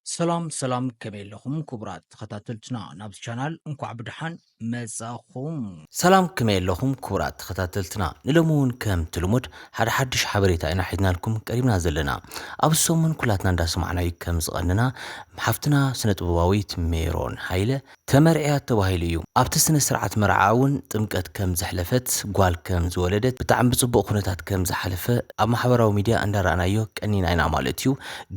ሰላም ሰላም ከመይ ኣለኹም ክቡራት ተኸታተልትና ናብዚ ቻናል እንኳዕ ብድሓን መጻኹም። ሰላም ከመይ ኣለኹም ክቡራት ተኸታተልትና ንሎሚ እውን ከምቲ ልሙድ ሓደ ሓድሽ ሓበሬታ ኢና ሒዝናልኩም ቀሪብና ዘለና ኣብዚ ሰሙን ኩላትና እንዳሰማዕናዩ ከም ዝቐንና ሓፍትና ስነ ጥበባዊት ሜሮን ሃይለ ተመርዕያ ተባሂሉ እዩ። ኣብቲ ስነ ስርዓት መርዓኣ እውን ጥምቀት ከም ዘሕለፈት፣ ጓል ከም ዝወለደት፣ ብጣዕሚ ብፅቡቕ ኩነታት ከም ዝሓለፈ ኣብ ማሕበራዊ ሚድያ እንዳረኣናዮ ቀኒና ኢና ማለት እዩ።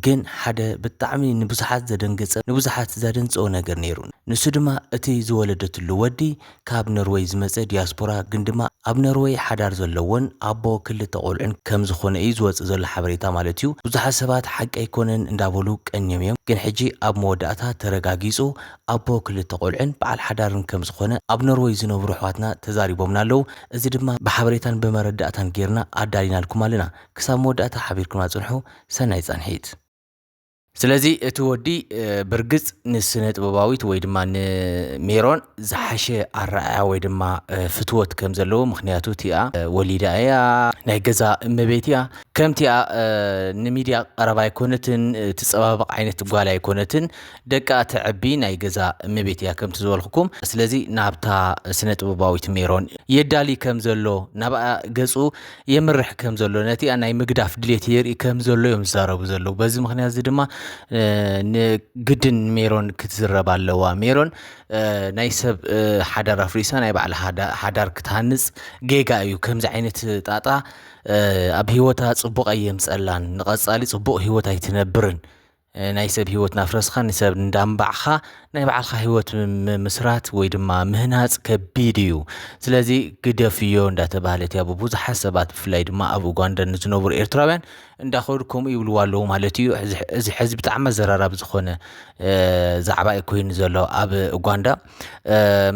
ግን ሓደ ብጣዕሚ ንብዙሓት ዘደንገፀ ንብዙሓት ዘደንፀወ ነገር ነይሩ። ንሱ ድማ እቲ ዝወለደትሉ ወዲ ካብ ኖርወይ ዝመፀ ዲያስፖራ ግን ድማ ኣብ ኖርወይ ሓዳር ዘለዎን ኣቦ ክልተ ቆልዑን ከም ዝኾነ እዩ ዝወፅእ ዘሎ ሓበሬታ ማለት እዩ። ብዙሓት ሰባት ሓቂ ኣይኮነን እንዳበሉ ቀንዮም እዮም። ግን ሕጂ ኣብ መወዳእታ ተረጋጊፁ። ኣቦ ክልተ ቆልዑን በዓል ሓዳርን ከም ዝኾነ ኣብ ኖርወይ ዝነብሩ ኣሕዋትና ተዛሪቦምና ኣለው። እዚ ድማ ብሓበሬታን ብመረዳእታን ጌርና ኣዳሊናልኩም ኣለና። ክሳብ መወዳእታ ሓቢርኩምና ጽንሑ። ሰናይ ጻንሒት። ስለዚ እቲ ወዲ ብርግጽ ንስነ ጥበባዊት ወይ ድማ ንሜሮን ዝሓሸ ኣረኣያ ወይ ድማ ፍትወት ከም ዘለዎ ምክንያቱ እቲኣ ወሊዳ እያ ናይ ገዛ እመቤት እያ ከምቲኣ ንሚድያ ቀረባ ኣይኮነትን ትጸባበቕ ዓይነት ጓል ኣይኮነትን ደቃ ተዕቢ ናይ ገዛ እመቤት እያ ከምቲ ዝበልኩኩም ስለዚ ናብታ ስነ ጥበባዊት ሜሮን የዳሊ ከም ዘሎ ናብኣ ገጹ የምርሕ ከም ዘሎ ነቲኣ ናይ ምግዳፍ ድሌት የርኢ ከም ዘሎ እዮም ዝዛረቡ ዘለዉ በዚ ምክንያት እዚ ድማ ንግድን ሜሮን ክትዝረብ ኣለዋ ሜሮን ናይ ሰብ ሓዳር ኣፍሪሳ ናይ ባዕላ ሓዳር ክትሃንጽ ጌጋ እዩ ከምዚ ዓይነት ጣጣ ኣብ ሂወታ ጽቡቕ ኣየምጸላን ንቐጻሊ ጽቡቕ ሂወት ኣይትነብርን ናይ ሰብ ሂወት ናፍረስካ ንሰብ እንዳንባዕካ ናይ ባዕልካ ሂወት ምምስራት ወይ ድማ ምህናጽ ከቢድ እዩ ስለዚ ግደፍዮ እንዳተባህለት እያ ብቡዙሓት ሰባት ብፍላይ ድማ ኣብ ኡጋንዳ ንዝነብሩ ኤርትራውያን እንዳኸዱ ከምኡ ይብልዋ ኣለዉ ማለት እዩ እዚ ሕዚ ብጣዕሚ ኣዘራራቢ ዝኾነ ዛዕባ እዩ ኮይኑ ዘሎ ኣብ ኡጋንዳ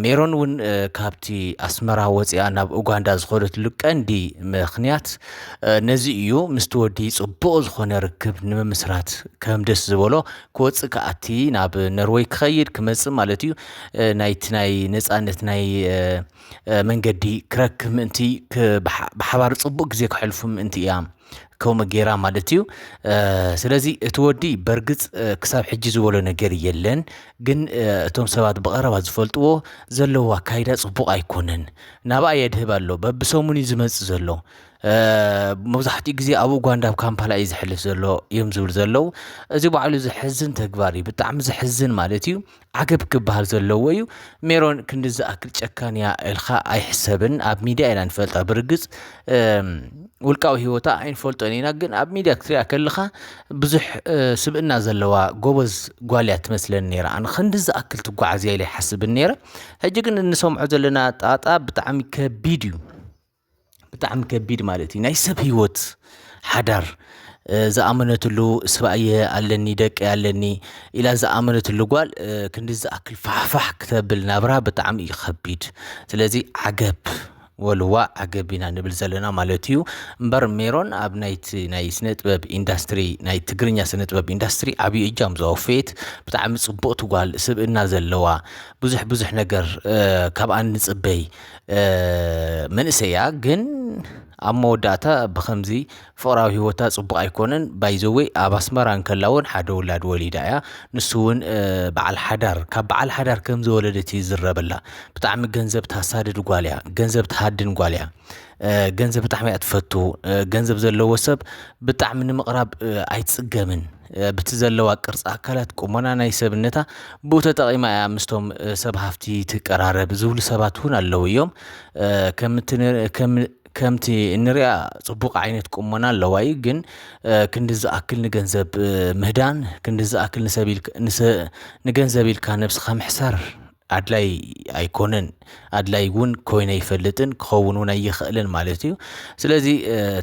ሜሮን እውን ካብቲ ኣስመራ ወፅያ ናብ ኡጋንዳ ዝኸደትሉ ቀንዲ ምክንያት ነዚ እዩ ምስቲ ወዲ ፅቡቕ ዝኾነ ርክብ ንምምስራት ከም ደስ ዝበሎ ክወፅእ ከኣቲ ናብ ነርወይ ክኸይድ ክመፅእ ማለት እዩ ናይቲ ናይ ነፃነት ናይ መንገዲ ክረክብ ምእንቲ ብሓባር ፅቡቕ ግዜ ክሕልፉ ምእንቲ እያ ከምኡ ጌራ ማለት እዩ። ስለዚ እቲ ወዲ በርግፅ ክሳብ ሕጂ ዝበሎ ነገር የለን፣ ግን እቶም ሰባት ብቐረባ ዝፈልጥዎ ዘለዎ ኣካይዳ ፅቡቕ ኣይኮነን፣ ናብኣ የድህብ ኣሎ በብሰሙን እዩ ዝመፅእ ዘሎ መብዛሕትኡ ግዜ ኣብ ኡጋንዳ ኣብ ካምፓላ እዩ ዝሕልፍ ዘሎ እዮም ዝብል ዘለዉ እዚ ባዕሉ ዘሕዝን ተግባር እዩ ብጣዕሚ ዘሕዝን ማለት እዩ ዓገብ ክበሃል ዘለዎ እዩ። ሜሮን ክንዲ ዝኣክል ጨካን እያ ኢልካ ኣይሕሰብን። ኣብ ሚድያ ኢና ንፈልጣ ብርግፅ ውልቃዊ ሂወታ ኣይንፈልጦን ኢና፣ ግን ኣብ ሚድያ ክትሪኣ ከለኻ ብዙሕ ስብእና ዘለዋ ጎበዝ ጓል እያ ትመስለኒ ነይራ። ኣነ ክንዲ ዝኣክል ትጓዓዝ እያ ኢለ ኣይሓስብን ነይረ። ሕጂ ግን እንሰምዖ ዘለና ጣጣ ብጣዕሚ ከቢድ እዩ። ብጣዕሚ ከቢድ ማለት እዩ ናይ ሰብ ህይወት ሓዳር ዝኣመነትሉ ስባኣየ ኣለኒ ደቂ ኣለኒ ኢላ ዝኣመነትሉ ጓል ክንዲ ዝኣክል ፋሕፋሕ ክተብል ናብራ ብጣዕሚ እዩ ከቢድ ስለዚ ዓገብ ወልዋ ዓገብ ኢና ንብል ዘለና ማለት እዩ እምበር ሜሮን ኣብ ናይቲ ናይ ስነ ጥበብ ኢንዳስትሪ ናይ ትግርኛ ስነ ጥበብ ኢንዳስትሪ ዓብዪ እጃም ዘወፈየት ብጣዕሚ ፅብቕቲ ጓል ስብእና ዘለዋ ብዙሕ ብዙሕ ነገር ካብኣ ንፅበይ መንእሰይ እያ ግን ኣብ መወዳእታ ብኸምዚ ፍቕራዊ ሂወታ ጽቡቕ ኣይኮነን ባይ ዘ ዌይ ኣብ ኣስመራ እንከላ ውን ሓደ ውላድ ወሊዳ እያ ንሱ ውን በዓል ሓዳር ካብ በዓል ሓዳር ከም ዝወለደት እዩ ዝዝረበላ ብጣዕሚ ገንዘብ ተሳድድ ጓል እያ ገንዘብ ትሃድን ጓል እያ ገንዘብ ብጣዕሚ እያ ትፈቱ ገንዘብ ዘለዎ ሰብ ብጣዕሚ ንምቕራብ ኣይትጽገምን። ብቲ ዘለዋ ቅርፂ ኣካላት ቁመና ናይ ሰብነታ ብኡ ተጠቒማ እያ ምስቶም ሰብ ሃፍቲ ትቀራረብ ዝብሉ ሰባት እውን ኣለዉ እዮም ከምቲ እንሪያ ፅቡቅ ዓይነት ቁመና ኣለዋ እዩ ግን ክንዲ ዝኣክል ንገንዘብ ምህዳን ክንዲ ዝኣክል ንሰብ ንገንዘብ ኢልካ ነብስኻ ምሕሳር ኣድላይ ኣይኮነን ኣድላይ እውን ኮይነ ኣይፈልጥን ክኸውን እውን ኣይኽእልን ማለት እዩ ስለዚ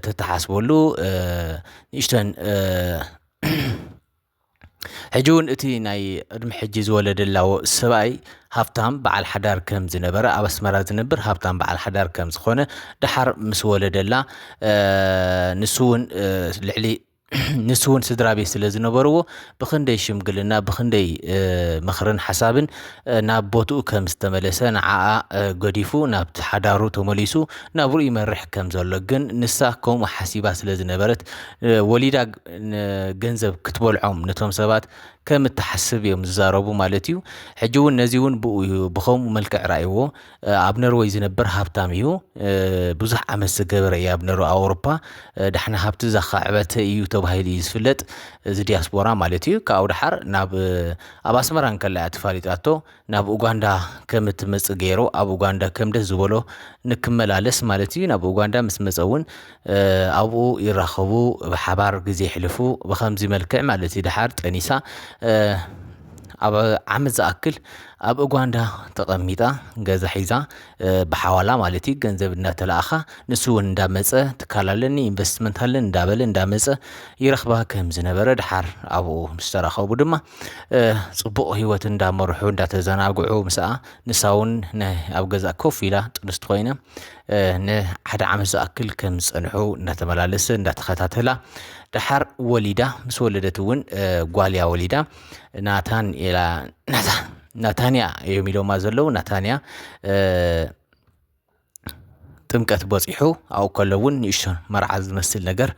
ተተሓስበሉ ንእሽተን ሕጂ እውን እቲ ናይ ዕድሚ ሕጂ ዝወለደላ ሰብኣይ ሃብታም በዓል ሓዳር ከም ዝነበረ ኣብ ኣስመራ ዝነብር ሃብታም በዓል ሓዳር ከም ዝኾነ ደሓር ምስ ወለደላ ንሱ እውን ልዕሊ ንሱ እውን ስድራ ቤት ስለ ዝነበርዎ ብክንደይ ሽምግልና ብክንደይ ምክርን ሓሳብን ናብ ቦትኡ ከም ዝተመለሰ ንዓኣ ገዲፉ ናብቲ ሓዳሩ ተመሊሱ ናብሩ ይመርሕ ከም ዘሎ ግን ንሳ ከምኡ ሓሲባ ስለ ዝነበረት ወሊዳ ገንዘብ ክትበልዖም ነቶም ሰባት ከም እትሓስብ እዮም ዝዛረቡ ማለት እዩ ሕጂ እውን ነዚ እውን ብኡ ብከምኡ መልክዕ ርኣይዎ ኣብ ነርወይ ዝነበር ሃብታም እዩ ብዙሕ ዓመት ዝገበረ እዩ ኣብ ነርወ ኣውሮፓ ዳሕና ሃብቲ ዘኻዕበተ እዩ ተባሂሉ እዩ ዝፍለጥ እዚ ዲያስፖራ ማለት እዩ ካብኡ ድሓር ናብ ኣብ ኣስመራ እንከላ እያ ተፋሊጣቶ ናብ ኡጋንዳ ከም እትመጽእ ገይሩ ኣብ ኡጋንዳ ከም ደስ ዝበሎ ንክመላለስ ማለት እዩ ናብ ኡጋንዳ ምስ መጸ እውን ኣብኡ ይራኸቡ ብሓባር ግዜ የሕልፉ ብከምዚ መልክዕ ማለት እዩ ደሓር ጠኒሳ ኣብ ዓመት ዝኣክል ኣብ ኡጓንዳ ተቐሚጣ ገዛ ሒዛ ብሓዋላ ማለት እዩ ገንዘብ እናተላእኻ ንሱ እውን እንዳመፀ ትካል ኣለኒ ኢንቨስትመንት ኣለኒ እንዳበለ እንዳመፀ ይረኽባ ከም ዝነበረ ደሓር ኣብኡ ምስ ተራኸቡ ድማ ፅቡቕ ህይወት እንዳመርሑ እንዳተዘናግዑ ምስኣ ንሳ እውን ናይ ኣብ ገዛ ኮፍ ኢላ ጥንስቲ ኮይና ንሓደ ዓመት ዝኣክል ከም ዝፀንሑ እናተመላለሰ እንዳተኸታተላ ደሓር ወሊዳ ምስ ወለደት እውን ጓልያ ወሊዳ ናታንኤላ ናታንያ እዮም ኢሎማ ዘለዉ ናታንያ ጥምቀት በፂሑ ኣብኡ ከሎ እውን ንእሽቶ መርዓ ዝመስል ነገር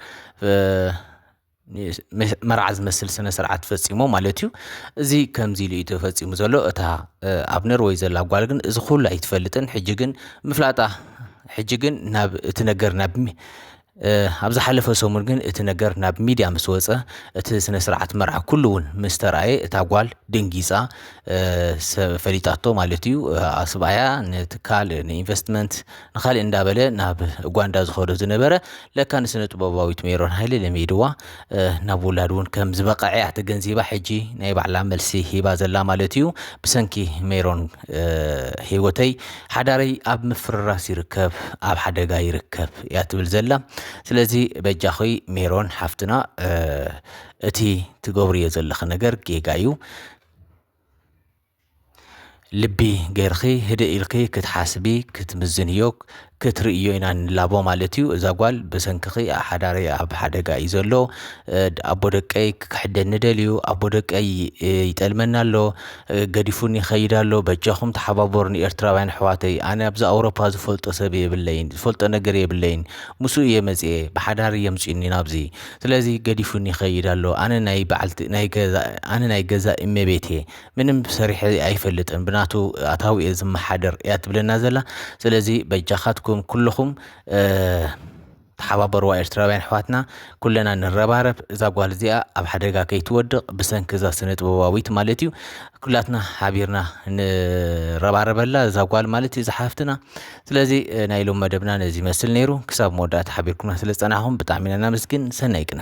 መርዓ ዝመስል ስነ ስርዓት ፈፂሞ ማለት እዩ። እዚ ከምዚ ኢሉ እዩ ተፈፂሙ ዘሎ እታ ኣብ ነርወይ ዘላ ጓል ግን እዚ ኩሉ ኣይትፈልጥን ሕጂ ግን ምፍላጣ ሕጂ ግን ናብ እቲ ነገር ናብ ኣብ ዝሓለፈ ሰሙን ግን እቲ ነገር ናብ ሚድያ ምስ ወፀ እቲ ስነ ስርዓት መርዓ ኩሉ እውን ምስ ተርኣየ እታ ጓል ደንጊፃ ፈሊጣቶ ማለት እዩ። ሰብኣያ ንትካል ንኢንቨስትመንት ንካሊእ እንዳበለ ናብ ኡጋንዳ ዝከዶ ዝነበረ ለካ ንስነ ጥበባዊት ሜሮን ሃይለ ለሚድዋ ናብ ውላድ እውን ከም ዝበቐዐ እያ ተገንዚባ ሕጂ ናይ ባዕላ መልሲ ሂባ ዘላ ማለት እዩ ብሰንኪ ሜሮን ሂወተይ ሓዳረይ ኣብ ምፍርራስ ይርከብ ኣብ ሓደጋ ይርከብ እያ ትብል ዘላ ስለዚ በጃኺ ሜሮን ሓፍትና እቲ ትገብርዮ ዘለኺ ነገር ጌጋ እዩ ልቢ ገርኺ ህድእ ኢልኪ ክትሓስቢ ክትምዝንዮ ክትርእዮ ኢና ንላቦ ማለት እዩ እዛ ጓል ብሰንክኺ ሓዳረይ ኣብ ሓደጋ እዩ ዘሎ ኣቦ ደቀይ ክክሕደኒ ደልዩ ኣቦ ደቀይ ይጠልመኒ ኣሎ ገዲፉኒ ይኸይድ ኣሎ በጃኹም ተሓባበሩኒ ኤርትራውያን ኣሕዋተይ ኣነ ኣብዚ ኣውሮፓ ዝፈልጦ ሰብ የብለይን ዝፈልጦ ነገር የብለይን ምስኡ እየ መጺኤ ብሓዳር እዩ ኣምጽኡኒ ናብዚ ስለዚ ገዲፉኒ ይኸይድ ኣሎ ኣነ ናይ በዓልቲ ናይ ገዛ ኣነ ናይ ገዛእ እመቤት እየ። ምንም ሰሪሐ ኣይፈልጥን ብናቱ ኣታዊ እየ ዝመሓደር እያ ትብለና ዘላ ስለዚ በጃኻትኩም ኩልኹም ተሓባበርዋ ኤርትራውያን ኣሕዋትና ኩለና ንረባረብ እዛ ጓል እዚኣ ኣብ ሓደጋ ከይትወድቕ ብሰንኪ እዛ ስነ ጥበባዊት ማለት እዩ ኩላትና ሓቢርና ንረባረበላ እዛ ጓል ማለት እዩ ዝሓፍትና ስለዚ ናይ ሎም መደብና ነዚ ይመስል ነይሩ ክሳብ መወዳእታ ሓቢርኩምና ስለ ዝፀናኹም ብጣዕሚ ኢና ናመስግን ሰናይ ቅነ